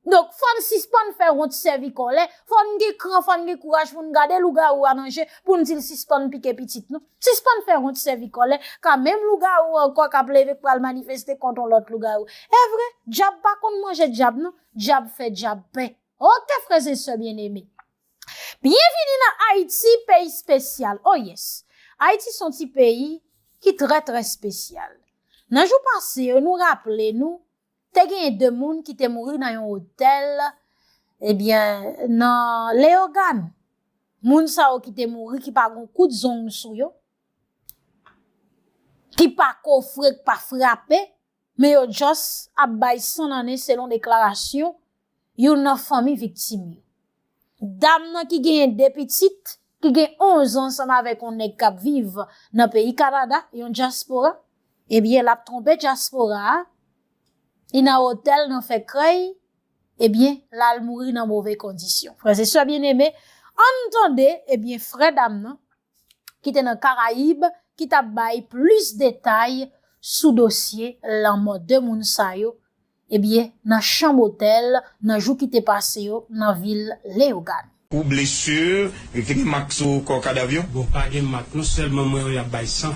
Donk fò n sispann fè wont sèvi kòlè, fò n gen kran, fò n gen kouraj pou n gade lougawou a nan je pou n di l sispann pike pitit nou. Sispann fè wont sèvi kòlè, ka menm lougawou ankò k ap leve k pral manifeste kont on lòt lougawou. Evre, dyab pa konn manje dyab non, dyab fè dyab pè. Ok frèzensè byenneme! Byenvini nan Ayiti peyi spesyal oh yes Ayiti son ti peyi ki trè trè spesyal Nan jou pase yo nou raple nou te genyen 2 moun ki te mouri nan yon otèl ebyen nan Leyogan moun sa yo ki te mouri ki pa gon kout zong sou yo ki pa kofre k pa frape Men yo just ap bay san nanen selon deklarasyon youn nan fanmi viktim yo. Dam nan ki genyen 2 pitit, ki gen 11 an ansanm avèk yon nèg k ap viv nan peyi Kanada, yon dyaspora, ebyen l ap twonpe dyaspora a, li nan otèl nan fè krèy, ebyen l al mouri nan move kondisyon. Frè e sè byeneme, ann tande ebyen frè dam nan. ki te nan Karayib ki t ap bay plis detay sou dosye lanmò 2 moun sa yo ebyen nan chanm otèl nan jou ki te pase yo nan vil Leyogàn. Ou blessure, yo te gen mak sou kò kadav yo? Bon pa gen mak non selman mwen yo yap bay san.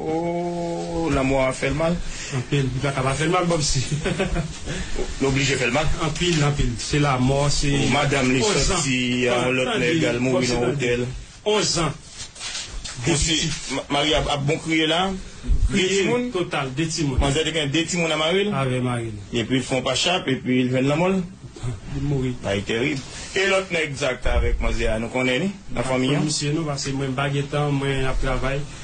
Ooh lanmò a fèl mal. Anpil li paka pa fèl mal banm si. Li oblije fèl mal. Anpil anpil se lamò se. Ooh madanm li sòti a yon lòt nèg al mouri nan otèl. 11 ans de pitit. Mari a ap bon kriye la. Kriye 2 timoun. Total 2 timoun. Manzè te gen 2 timoun a maril. Avè maril. Epil fon pa chap epi li jwenn lanmòl. Li mouri. Bagay terib. E lòt nèg sa ki ta avèk manzè a nou konnen li nan fanmi an. Mwen pa konn misye non pase mwen pa gentan mwen ap travay.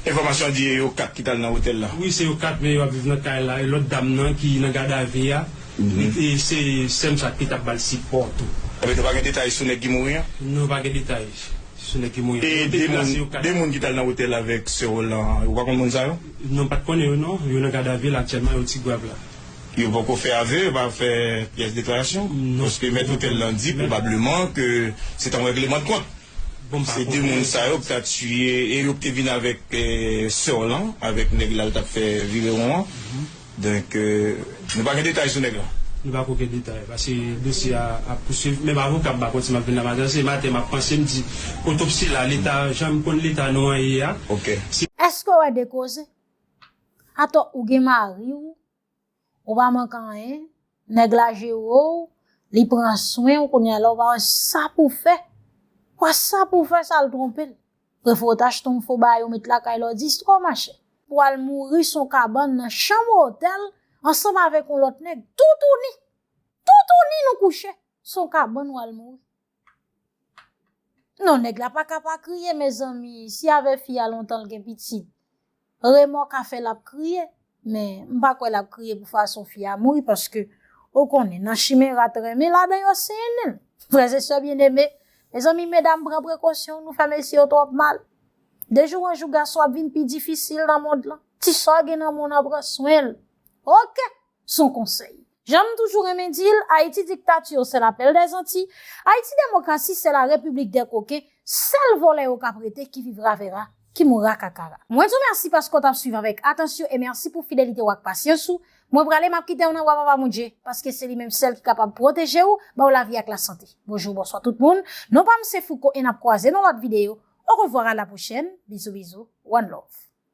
Enfòmasyon di e yo 4 ki tal nan otèl la. Wi se yo 4 men yo ap viv nan kay la e lòt dam nan ki nan gadavi a li te se sèm sa ki tap bal sipò tou. Ebyen nou pa gen detay sou nèg ki mouri an? Non pa gen detay sou nèg ki mouri an. E 2 moun, 2 moun ki tal nan otèl avèk sè w lan ou pa konn moun sa yo? Non pat konnen yo non, yo nan gadavi la aktyèlman yo ti gwav la. Yo poko fè ave, yo pa fè pyès deklarasyon? Non. Paske mèt otèl lan di pwobableman ke se ta yon règleman de kont. Se de moun sa yo k ta tiye e yo k te vin avèk sè w lan, avèk nèg la l t ap fè virewon an. Donk, nou pa gen detay sou nèg la? Nou pa ko gen detay paske dosye a ap pousuiv. Menm avoka m pa konn si m ap vin la maten an. Se maten m ap panse m di otopsi la leta jan m konn leta nou an ye a. Èske w wè de koze? Atò ou gen mari w Ou pa mank anyen, nèg la jere w, li pran swen w kounye a la ou pa wè sa pou w fè. Ou wè sa pou w fè sa l twonpe l. Prefere w ta achte yon fo baay ou met lakay la ou di istwa mache. Pou w al mouri sou yon kabann nan chanm otèl ansanm avèk yon lòt nèg toutouni. Toutouni nou kouche sou yon kabann ou al mouri. Non nèg la pa ka pa kriye mezanmi si avè fi a lontan l gen pitit remò ka fè lap kriye men m pa kwè lap kriye pou fason fi a mouri paske ou konnen nan chimen rat renmen ladan yo sennen frè e sè byeneme mezanmi medam pran prekosyon nou fè mesye yo twòp mal de jou an jou gason ap vin pi difisil nan mond lan ti sa w gen nan men w nan pran swen l ok. son konsèy. Jan m toujou renmen di l, Ayiti dictature c'est la belle des Antilles, Ayiti demokrasi c'est la République des coquins, sèl vòlè yo k ap rete qui vivra verra, qui mourra kakara. Mwen di w mèsi paske w t ap swiv avèk atansyon e mèsi pou fidelite w ak pasyans ou. Mwen prale, m ap kite w nan bra Papa Bondye, paske se li menm sèl ki kapab pwoteje w, ba w lavi ak lasante. Bonjou, bonswa tout moun, non pa m se Fouco e n ap kwaze nan lòt videyo. Au revoir à la prochaine, bizou bizou, one love.